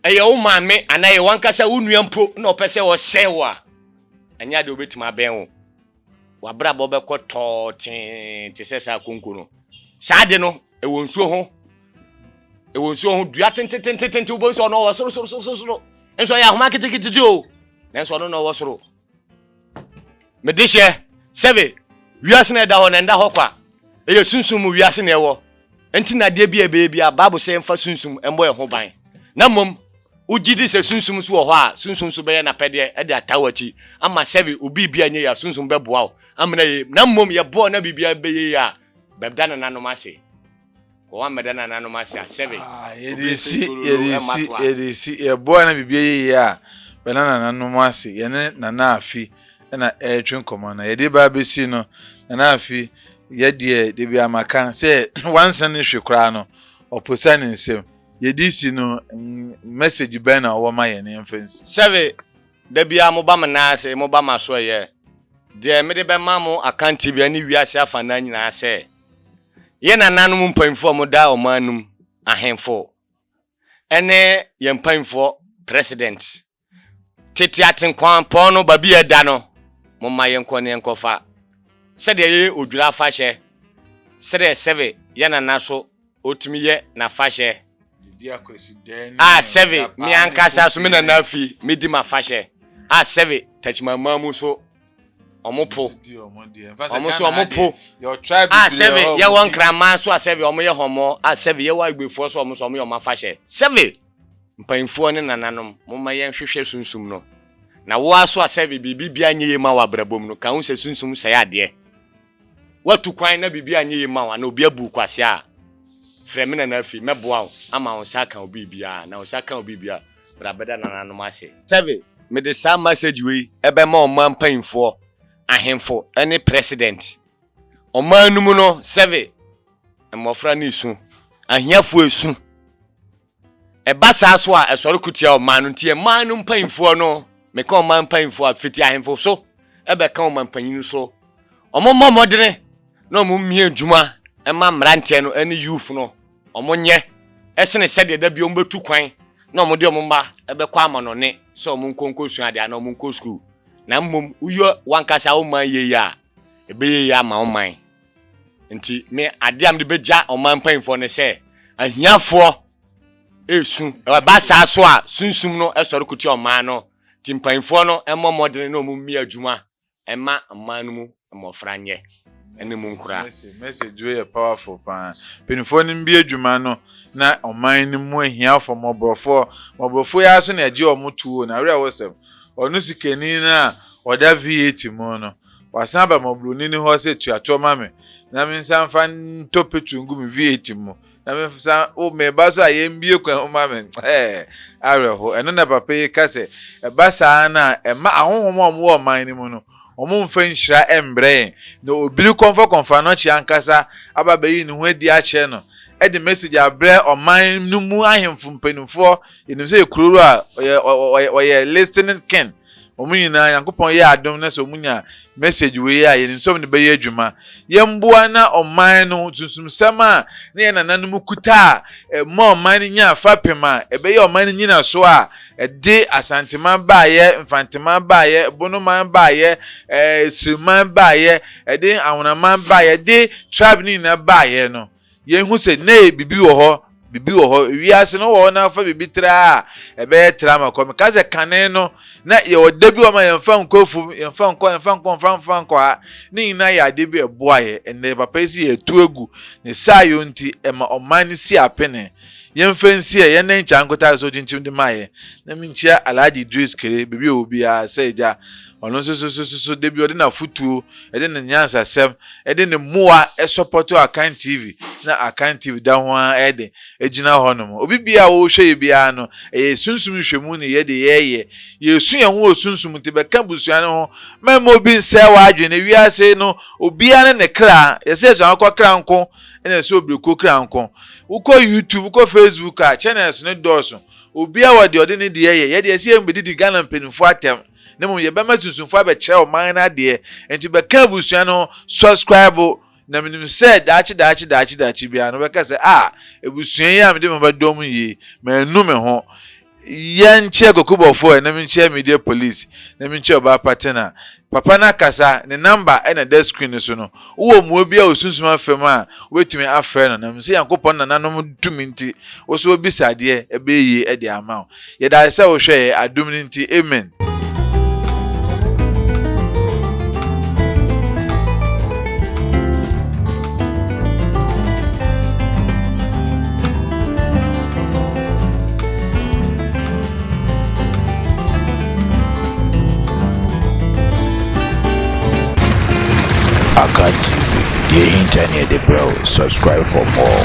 ɛyɛ wo maame anaa ɛyɛ wankasa wo nua mpo na ɔpɛ sɛ ɔsɛe wo a ɛnyɛ ade wobɛtumi abɛn wo wabrabɔ bɛkɔ tɔɔ tee te sɛ saa konko no saa de no ɛwɔ nsuo ho ɛwɔ nsuo ho dua tentetentente wobɛhu sɛ ɔno ɔwɔ soro soro soro soro nso ɛyɛ ahoma ketekete o nanso ɔno na ɔwɔ soro mede hyɛ sɛbe wiase na ɛda hɔ na ɛnda hɔ kwa ɛyɛ sunsum mu wiase na ɛwɔ nti na adeɛ bi a ɛbɛyɛ bi a bible sɛ mfa sunsum mmɔ ɛho ban na mmom wogye di sɛ sunsum so wɔ hɔ a sunsum so bɛyɛ n'apɛdeɛ de ata w'akyi ama sɛbe obi bi a nyɛ yɛ a sunsum bɛboa wo amena yɛ na mmom yɛbɔɔ na biribiara bɛyɛ yɛ a bɛda nananom ase Wɔammɛda nananom ase asɛbe. Yɛde si, yɛde si, yɛde si. Yɛboa na biribi yɛ yie a, bɛda nananom ase. Yɛne Nana Afi na ɛretwe nkɔmmɔ na yɛde ba abɛsi no. Nana Afi, yɛ deɛ da biara maka sɛ wansene ne hwee koraa no, ɔposa ne nsam. Yɛde si no, message bɛn na wowɔ ma yɛn yɛmfa nsi? Sɛbe, da biara moba me nan ase, moba m'asoɛeɛ. Deɛ mede bɛma mo akantie biara ne wiase afanaa nyinaa sɛ, Yɛn nananom mpanyimfoɔ a wɔdaa wɔn anom, ahemfo ne yɛn mpanyimfoɔ president, tete atenkwampɔn no, baabi a ɛda no, momma yɛnkɔ ne yɛnkɔfa sɛdeɛ yɛyɛ odwira afahyɛ, sɛdeɛ sɛbe yɛn nana so Otumi yɛ n'afahyɛ. A sɛve me ankasa so me nana afi medi m'afahyɛ. A sɛve Takyimamaa mu so ɔmo po. Ɔmo so ɔmo po. A sɛve yɛwɔ Nkraman so a sɛve ɔmo yɛ hɔmɔ. A sɛve yɛwɔ Agbefoɔ so a ɔmo so ɔmo yɛ ɔmo afahyɛ. Sɛve Mpaninfoɔ ne Nananom momma yɛn hwehwɛ Sunsum no. Na woa so a sɛve biribi biara nyɛ yie ma wo abrabɔ mu no, ka ho sɛ Sunsum sɛe adeɛ. woatu kwan na biribi anyɛ yie mma wo anaa obi abu wo kwasea a, frɛ me Nana Afei mɛboa wo ama wo nsa aka wo biribiara na wo nsa ka wo biribi a, bra bɛda nananom ase. Seven, Mede saa message wei bɛma ɔman mpanyimfoɔ, ahemfo ne President. Ɔman no mu no, seven, mmɔfra no resu, ahiafoɔ resu. Ɛba saa so a, ɛsɔre ko tia ɔman no. Nti ɛman no mpaimfoɔ no, meka ɔman mpaimfoɔ a, fiti ahemfo so bɛka ɔmanpanyin so, wɔmmɔ mmɔdene na wɔmmie adwuma mma mmeranteɛ no ne youth no, wɔnyɛ sene sɛdeɛ da bi wɔbɛtu kwan na wɔde wɔn mma bɛkɔ amanɔne sɛ wɔnkɔ nkɔsua adeɛ anaa wɔnkɔ sukuu, na mmom woyɛ w'ankasa wo man yie a, ɛbɛyɛ yie ama wo man. Nti me adeɛ a mede bɛgya ɔman mpanyinfoɔ ne sɛ ahiafoɔ ɛresu ɛba saa so a sunsum no ɛsɔre kotia ɔman no nti mpanyinfoɔ no ɛmmɔ mmɔdene na ɔmo mmi adwuma ɛma ɔman no mu mmɔfra nyɛ ɛne mu nkura. Message wei yɛ powerful paa. Mpanyinfoɔ no mbi adwuma no na ɔman no mu ahiafoɔ mmɔborɔfoɔ mmɔborɔfoɔ yi ara so na yɛgye ɔmo tuo na awerɛhosɛm ɔno sikani no a ɔda VAT mu no Wɔasan aba mmɔborɔni no hɔ sɛ tua toɔ ma me na mensan mfa ntɔ petro ngu me V8 mu na mensan wo meba so a yɛmbue kwan mu ma me. Ɛɛ, awerɛho. Ɛno na papa yi ka sɛ ɛba saa no a, ɛmma ahonhom a wɔwɔ ɔman no mu no, wɔmfa nhyira mbrɛ yɛn. Na obiri kɔmfakɔmfa no kye ankasa aba abɛyi ne ho adi akyerɛ no de message abrɛ ɔman no mu ahemfo mpanimfoɔ. Yɛnim sɛ yɛ Kurowura, ɔyɛ, ɔyɛ, ɔyɛ listening king. wɔn nyinaa Nyankopɔn yɛ adom na sɛ wɔn nya message wei a yɛnim sɛ wɔn de bɛyɛ adwuma yɛmboa na ɔman no sunsumsɛm a na yɛn nananom kuta a ɛma ɔman no nya fapem a ɛbɛyɛ ɔman no nyina so a ɛde asanteman baayɛ mfanteman baayɛ bonoman baayɛ ɛɛ siriman baayɛ ɛde ahonaman baayɛ ɛde tribe no nyinaa baayɛ no Yɛnhu sɛ nnɛ yi biribi wɔ hɔ, biribi wɔ hɔ, wiase no wɔ hɔ na fa biribi tra a, ɛbɛyɛ tra ma kɔ. Meka sɛ kane no, na yɛwɔ da bi wɔ hɔ ma yɛmfa nkɔ afum, yɛmfa nkɔ, yɛmfa nkɔ, mfa mfa nkɔ ha. Ne nyinaa yɛ adeɛ bi ɛboa yɛ. Ɛnnɛ yɛ papa yi se yɛatu agu, ne saa yɔ nti ɛma ɔman no si apene. Yɛmfa nsi ɛ, yɛnnɛ nkyɛ ankotase so gyinkyem de ma yɛ. Na menkyia Alhaji Idris Kere, baabi a ɔwɔ biara, sɛ Agya, Ɔno nso so so so so da bi ɔde n'afotuo, ɛde ne nyansasɛm, ɛde ne mmoa ɛsɔpɔto Akan TV na Akan TV da ho ara ɛde ɛgyina hɔ nom. Obi biara a wɔrehwɛ yɛ biara no ɛyɛ sunsum nhwɛmu ne yɛde yɛreyɛ. Yɛresu yɛn ho wɔ sunsum nti bɛka abusua no ho ma mma obi nsɛe w'adwene. Ewiase no obiara ne ne kra, yɛsɛ yɛsua akokɔ kra nko ɛna ɛsɛ obirekuo kra nko. Wokɔ YouTube, wokɔ Facebook a channels no dɔɔso. Obiara wɔ deɛ ɔde ne deɛ yɛ, yɛdeɛ ɛsɛ yɛn bɛdidi Ghana mpanimfoɔ atɛm. na mmom yɛbɛma sunsumfo abɛkyerɛ ɔman no adeɛ nti bɛka abusua no subscribe na menim sɛ daakye daakye daakye daakye biara no bɛka sɛ ah abusua yi a mede maba dɔm yi mannu me ho yɛ nkyerɛ kokobɔfoɔ ɛnam nkyerɛ media police na menkyerɛ ɔbaa patena papa no akasa ne number ɛna da screen no so no wowɔ mmoa bi a osunsum afam a wobɛtumi afrɛ no na menim sɛ Nyankopɔn nananom tumi nti wo so wabisa adeɛ ɛbɛyɛ yie de ama wo Yɛdase sɛ wohwɛ yɛ adom no nti amen. Akan TV, deɛ ɛhinta ne yɛde brɛ wo. Subscribe for more.